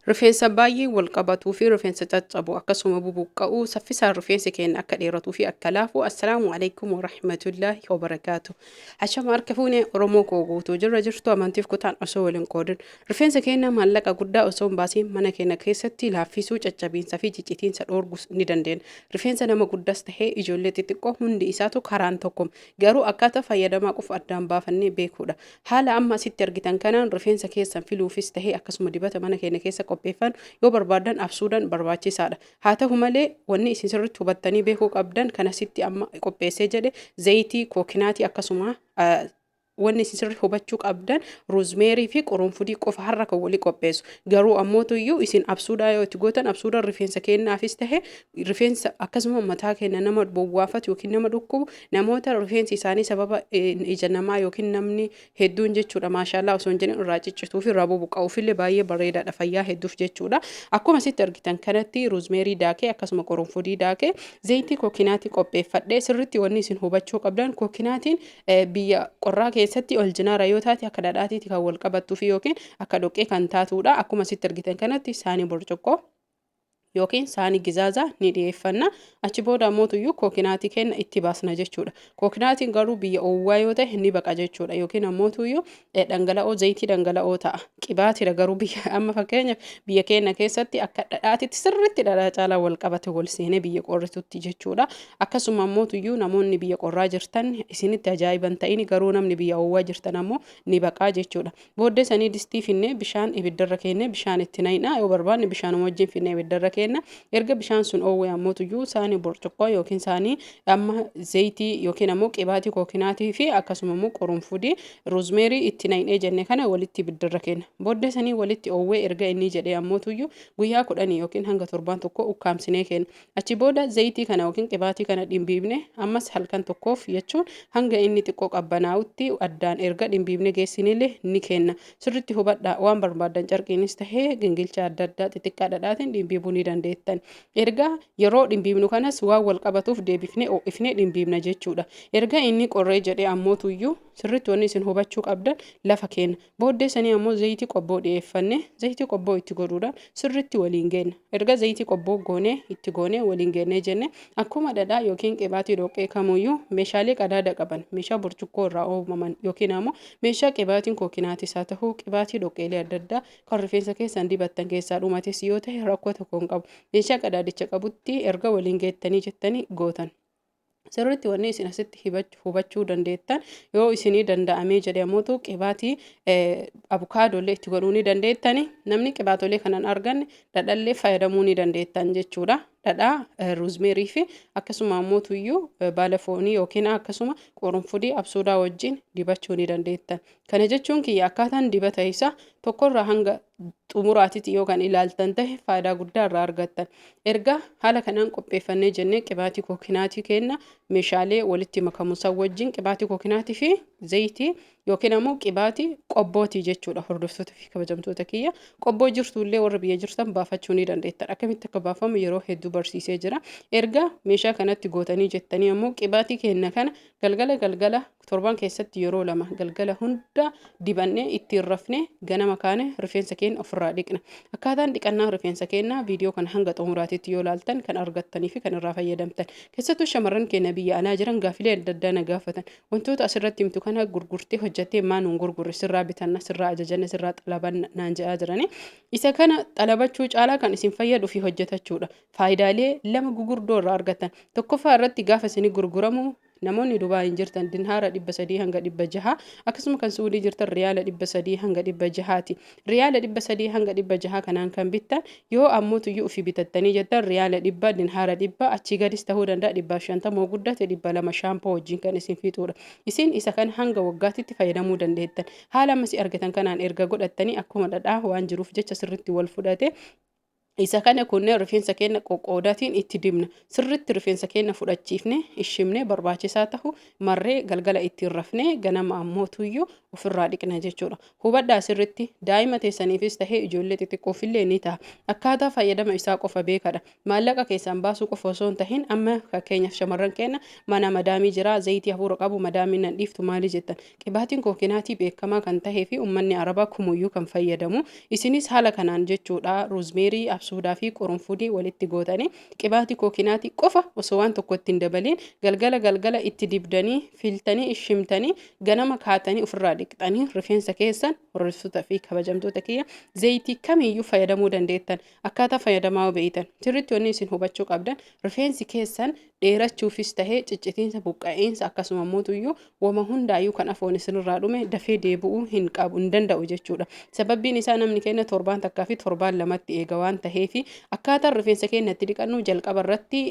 Rifeensa baay'ee wal qabatuu fi rifeensa caccabu akkasuma bubuqqa'u saffisaan rifeensi keenya akka dheeratuu fi akka laafu assalaamu alaikum warahmatullaahi wabarakaatu hashama harka fuune oromoo koo guutuu jirra jirtu amantiif kutaan osoo waliin qoodin rifeensa keenya maallaqa guddaa osoo hin baasiin mana keenya keessatti laaffisuu caccabiinsa fi ciccitiinsa dhoorgus ni dandeenya rifeensa nama guddaas tahee ijoollee xixiqqoo hundi isaatu karaan tokko garuu akkaataa fayyadamaa qofa addaan baafannee beekuudha Haala amma asitti argitan kanaan rifeensa keessan filuufis tahee akkasuma dibata mana keenya keessa qopheeffannu yoo barbaaddan absuudhaan barbaachisaadha. Haa tahu malee wanni isin sirriitti hubattanii beekuu qabdan kan asitti amma qopheessee jedhe zayitii, kookinaatii akkasuma wanni isin sirrii hubachuu qabdan ruuzmeerii fi qurunfudii qofa har'a kan walii qopheessu. Garuu ammootu iyyuu isin absuudhaa yoo itti gootan absuudhaan rifeensa keenyaafis tahe rifeensa akkasuma mataa keenya nama bowwaafatu yookiin nama dhukkubu Namoota rifeensi isaanii sababa ija namaa yookiin namni hedduun jechuudha maashaallaa osoo hin jedhin irraa ciccituu fi irraa bubuqqa'uuf illee baay'ee bareedaadha fayyaa hedduuf jechuudha. Akkuma sitti argitan kanatti ruuzmeerii daakee akkasuma qorunfudii daakee zayitii kookinaatii qopheeffadhee sirritti wanni isin hubachuu qabdan kookinaatiin biyya qorraa keessatti ol jinaara yoo taate akka dhadhaatiiti kan wal qabattuu fi yookiin akka dhoqqee kan taatuudha. Akkuma sitti argitan kanatti saanii burcuqqoo. yookiin saanii gizaazaa ni dhiyeeffanna achi booda ammootuyyuu kookinaatii kenna itti baasna jechuudha kookinaatiin garuu biyya oowwaa yoo ta'e ni baqa jechuudha yookiin ammootuyyuu dhangala'oo zayitii dhangala'oo ta'a qibaatidha garuu biyya amma fakkeenya biyya keenya keessatti akka dhadhaatitti sirriitti dhadhaa caalaa wal qabate wal seenee biyya qorritutti jechuudha akkasuma ammootuyyuu namoonni biyya qorraa jirtan isinitti ajaa'iban ta'ini garuu namni biyya oowwaa jirtan ammoo ni baqaa jechuudha Booddee sanii distii finnee bishaan ibiddarra keenne bishaan itti nayna yoo barbaanne bishaanuma wajjin finnee ibiddarra keenna erga bishaan sun oowwee ammootuyyuu saanii burcuqqoo yookiin saanii amma zeeytii yookiin ammoo qibaatii kookinaatii fi akkasuma immoo qurunfudii roozmeerii itti naynee jenne kana walitti ibiddarra keenna booddee sanii walitti oowwee erga inni jedhee ammootuyyuu guyyaa kudhanii yookiin hanga torbaan tokko ukkaamsinee keenna Achi booda zayitii kana yookiin qibaatii kana dhimbiibne ammas halkan tokkoof jechuun hanga inni xiqqoo qabbanaa'utti addaan erga dhimbiibne geessinille ni kenna. Sirritti hubadhaa waan barbaaddan carqiinis tahee gingilcha adda addaa xixiqqaa dhadhaatiin dhimbiibuu ni dandeettan. Erga yeroo dhimbiibnu kanas waan wal qabatuuf deebifnee oo'ifnee dhimbiibna jechuudha. Erga inni qorree jedhee ammootuyyuu sirritti wanni isin hubachuu qabdan lafa keenya. Booddee sanii ammoo zayitii qobboo dhiyeeffanne zayitii qobboo itti godhuudhaan sirritti waliin geenna. Erga zayitii qobboo goonee itti goonee waliin geennee jenne akkuma dhadhaa yookiin qibaatii dhoqqee kamuuyyuu meeshaalee qadaada qaban meeshaa burcuqqoo irraa oomaman yookiin ammoo meeshaa qibaatiin kookinaatis haa tahu qibaatii dhoqqeelee adda addaa kan rifeensa keessan dibattan keessaa dhumates yoo tahe rakkoo tokko hin qabu meeshaa qadaadicha qabutti erga waliin geettanii jettanii gootan. Sirriitti wanni isin asitti hibachu- hubachuu dandeettan yoo isinii danda'amee jedhe ammoo qibaatii abukaadollee itti godhuu ni dandeettani. Namni qibaatolee kanan arganne dhadhallee fayyadamuu ni dandeettan jechuudha. Dhadhaa eh, ruuzmeerii fi akkasuma ammoo tuyyuu eh, baala foonii yookiin akkasuma qurunfudii absuudaa wajjin dibachuu ni dandeettan. Kana jechuun kiyya akkaataan dibata isaa tokkorraa hanga xumuraatitti yoo kan ilaaltan tahe faayidaa guddaa irraa argattan. Ergaa haala kanaan qopheeffannee jennee qibaatii kookinaatii kenna meeshaalee walitti makamu san wajjin qibaatii kookinaatii fi zayitii yookiin ammoo qibaatii qobbootii jechuudha hordoftoota fi kabajamtoota kiyya. Qobboo jirtu illee warra biyya jirtan baafachuu ni dandeettan. Akkamitti akka baafamu yeroo hedduu barsiisee jira. Ergaa meeshaa kanatti gootanii jettanii ammoo qibaatii kenna kana galgala galgala Torban keessatti yeroo lama galgala hunda dibannee ittiin rafne ganama kaane rifeensa keenya ofirraa dhiqna. Akkaataan dhiqannaa rifeensa keenyaa viidiyoo kana hanga xumuraatiitti yoo laaltan kan argattanii fi kan irraa fayyadamtan. Keessattuu shamarran keenya biyya alaa jiran gaafilee adda addaa na gaafatan. Wantoota asirratti himtu kana gurgurtee hojjattee maa nuun gurgurre sirraa bitanna sirraa ajajanna sirraa xalabanna naan jedhaa jirani. Isa kana xalabachuu caalaa kan isin fayyadu fi hojjetachuudha. Faayidaalee lama gugurdoo irraa argattan. Tokkoffaa irratti gaafa isinii gurguramu Namoonni Dubaayin jirtan Dinhaara 300-600, akkasuma kan Su'udii jirtan Riyaala 300-600 ti. Riyaala 300-600 kanaan kan bittan, yoo ammoo tuyyuu ufii bitattanii jettan Riyaala 100, Dinhaara 100, achii gadis tahuu danda'a 150 hoo guddate 200 shaampoo wajjiin kan isin fixuudha. Isin isa kana hanga waggaatitti fayyadamuu dandeettan. Haala ammasii argatan kanaan erga godhattanii akkuma dhadhaa waan jiruuf jecha sirritti wal fudhate. Isa kana kunnee rifeensa keenya qoqqoodaatiin itti dibna. Sirriitti rifeensa keenya fudhachiifne, ishimne barbaachisaa tahu marree galgala ittiin rafne ganama ammoo tuyyuu ofirraa dhiqna jechuudha. Hubadhaa sirriitti daa'ima teessaniifis tahee ijoollee xixiqqoofillee ni taha. Akkaataa fayyadama isaa qofa beekadha. Maallaqa keessaan baasuu qofa osoo hin tahin amma fakkeenyaaf shamarran keenya mana madaamii jira zayitii hafuura qabu madaamiin nan dhiiftu maali jettan. Qibaatiin koo kinaatii beekamaa kan tahee fi ummanni Arabaa kumuyyuu kan fayyadamu. Isinis haala kanaan jechuudha roozmeerii, absuudaa fi qurunfudii walitti gootanii qibaati koo kinaatii qofa osoo waan tokko itti hin dabaliin galgala galgala itti dibdanii filtanii ishimtanii ganama kaatanii ofirraa dhiqxanii rifeensa keessan hordoftoota fi kabajamtoota kiyya zeeyitii kamiyyuu fayyadamuu dandeettan. Akkaataa fayyadamaa beeytan sirritti wanni isin hubachuu qabdan rifeensi keessan dheerachuufis tahee ciccitiinsa buqqa'iinsa akkasuma mootuyyuu wama hundaayyuu kan afoon isinirraa dhume dafee deebi'uu hin qabu hin danda'u jechuudha. Sababbiin isaa namni keenya torbaan takkaa fi torbaan lamatti eega waan taheefi akkaataan rifeensa keenya itti dhiqannu jalqaba irratti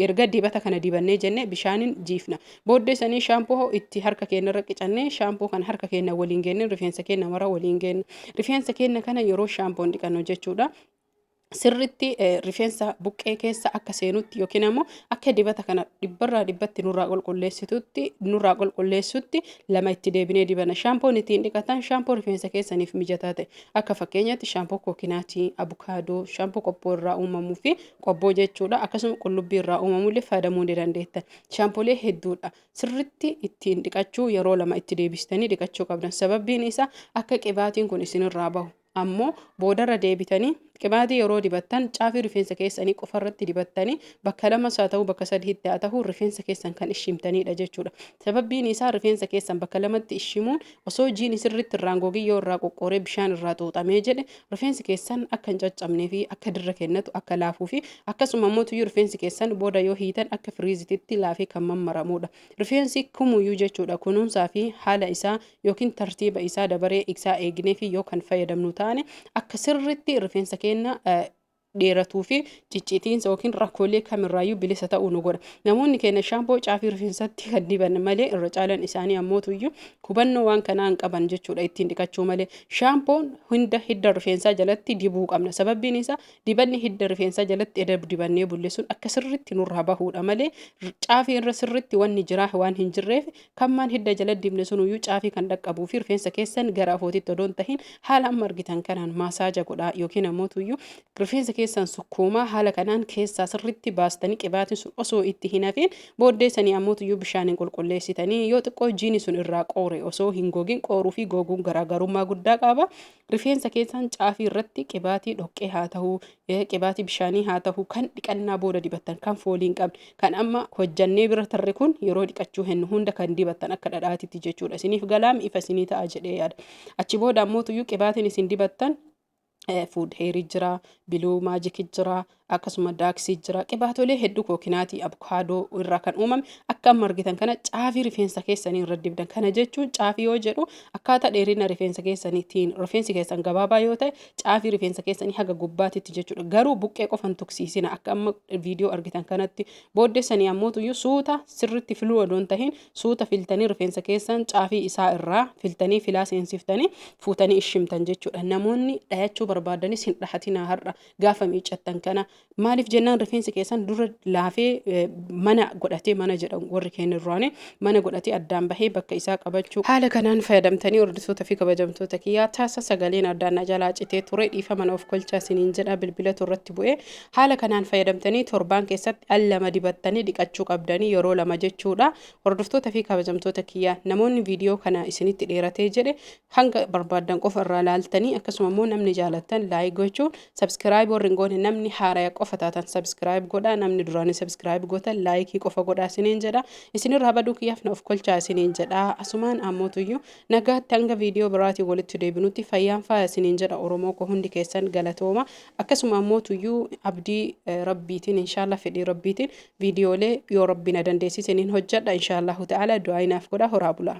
Erga dibata kana dibannee jenne bishaanin jiifna. Booddee sanii shaampoo itti harka keenyarra qicannee shaampoo kana harka keenya waliin geenne rifeensa keenya mara waliin geenna. Rifeensa keenya kana yeroo shaampoon dhiqannu jechuudha. Sirritti rifeensa buqqee keessa akka seenutti yookiin ammoo akka dibata kana dhibbarraa dhibbatti nurraa qulqulleessitutti nurraa qulqulleessutti lama itti deebinee dibana. Shaampoon ittiin dhiqatan shaampoo rifeensa keessaniif mijataa ta'e. Akka fakkeenyaatti shaampoo kookinaatii, abukaadoo, shaampoo qobboo irraa uumamuu fi qobboo jechuudha akkasuma qullubbii irraa uumamu illee fayyadamuu ni dandeettan shaampolee hedduudha sirritti ittiin dhiqachuu yeroo lama itti deebistanii dhiqachuu qabdan sababbiin isaa akka qibaatiin kun isinirraa bahu ammoo boodarra deebitanii qibaatii yeroo dibattan caafii rifeensa keessanii qofarratti dibattanii bakka lamas haa ta'uu bakka sadiitti haa ta'uu rifeensa keessan kan ishimtaniidha jechuudha Sababbiin isaa rifeensa keessan bakka lamatti shimuun osoo jiini sirriitti irraan gogin yoo irraa qoqqooree bishaan irraa xuuxamee jedhe rifeensi keessan akka hin caccabnee fi akka dirra kennatu akka laafuu fi akkasuma ammoo tuyyuu rifeensi keessan booda yoo hiitan akka firiizititti laafee kan mammaramuudha. Rifeensi kumuyyuu jechuudha kunuunsaa fi haala isaa yookiin tartiiba isaa dabaree isaa eegnee fi yoo kan fayyadamnu taane akka sirriitti rifeensa keenna dheeratuu fi ciccitiinsa yookiin rakkoolee kamirraayyuu bilisa ta'uu nu godha. Namoonni keenya shaampoo caafii rifeensatti kan diban malee irra caalan isaanii ammootuyyuu hubannoo waan kanaa hin qaban jechuudha ittiin dhiqachuu malee. Shaampoon hunda hidda rifeensaa jalatti dibuu qabna. Sababbiin isaa dibanni hidda rifeensaa jalatti eda dibannee bullisuun akka sirriitti nurraa bahuudha malee caafii irra sirriitti wanni jiraa waan hin jirreef Kammaan hidda jala dibne sunuyyuu caafii kan dhaqqabuu fi rifeensa keessan gara afootitti odoo hin tahin haala amma argitan kanaan maasaaja godhaa yookiin ammoo tuyyuu rifeensa keessan sukkuumaa haala kanaan keessaa sirritti baastanii qibaatiin sun osoo itti hin hafiin booddeessanii ammoo tuyyuu bishaaniin qulqulleessitanii yoo xiqqoo jiini sun irraa qoore osoo hin gogin qooruu fi goguun garaagarummaa guddaa qaba. Rifeensa keessan caafii irratti qibaatii dhoqqee haa tahu, qibaatii bishaanii haa tahu, kan dhiqannaa booda dibattan, kan foolii hin qabne, kan amma hojjannee bira tarre kun yeroo dhiqachuu hennu hunda kan dibattan akka dhadhaatitti jechuudha. Isiniif galaam ifa isinii ta'a jedhee yaada. Achi booda ammootuyyuu qibaatiin isin dibattan food heerii jira, biluu maajiki jira, akkasuma daaksii jira. Qibaatolee hedduu kookinaatii, abukaadoo irraa kan uumame akka amma argitan kana caafii rifeensa keessanii irra dibdan. Kana jechuun caafii yoo jedhu akkaataa dheerina rifeensa keessaniitiin rifeensi keessan gabaabaa yoo ta'e caafii rifeensa keessanii haga gubbaatitti jechuudha. Garuu buqqee qofan tuksiisina akka amma viidiyoo argitan kanatti booddessanii ammootuyyuu suuta sirritti filuu odoon tahin suuta filtanii rifeensa keessan caafii isaa irraa filtanii filaa seensiftanii fuutanii ishimtan jechuudha. Namoonni dhayachuu barbaadanis hin dhahatinaa har'a. Gaafa miiccattan kana maaliif jennaan rifeensi keessan dura laafee eh, mana godhatee mana jedhan warri keenya duraanii mana godhatee addaan bahee bakka isaa qabachuu haala kanaan fayyadamtanii hordoftoota fi kabajamtoota kiyyaa taasa sagaleen addaan na jalaa citee ture dhiifama na of kolchaa siniin jedha bilbilatu irratti bu'ee haala kanaan fayyadamtanii torbaan keessatti al lama dibattanii dhiqachuu qabdanii yeroo lama jechuudha hordoftoota fi kabajamtoota kiyyaa namoonni viidiyoo kana isinitti dheeratee jedhe Hanga barbaaddan qofa irraa laaltanii akkasuma immoo namni jaalattan laayik gochuun sabskiraayib warri hin goone namni haaraya qofa taatan sabskiraayib godhaa namni duraanii sabskiraayib gootan laayikii qofa godhaa isiniin jedha isinirraa baduu kiyyaaf na of kolchaa isiniin jedha asumaan ammootuyyuu nagaatti hanga viidiyoo biraatiin walitti deebinutti fayyaan faaya isiniin jedha oromoo koo hundi keessan galatooma akkasuma ammootuyyuu abdii eh, rabbiitiin inshaallah fedhii rabbiitiin viidiyoolee yoo rabbiin na dandeessise niin hojjedha inshaallahu ta'ala du'aa inaaf godha horaa bulaa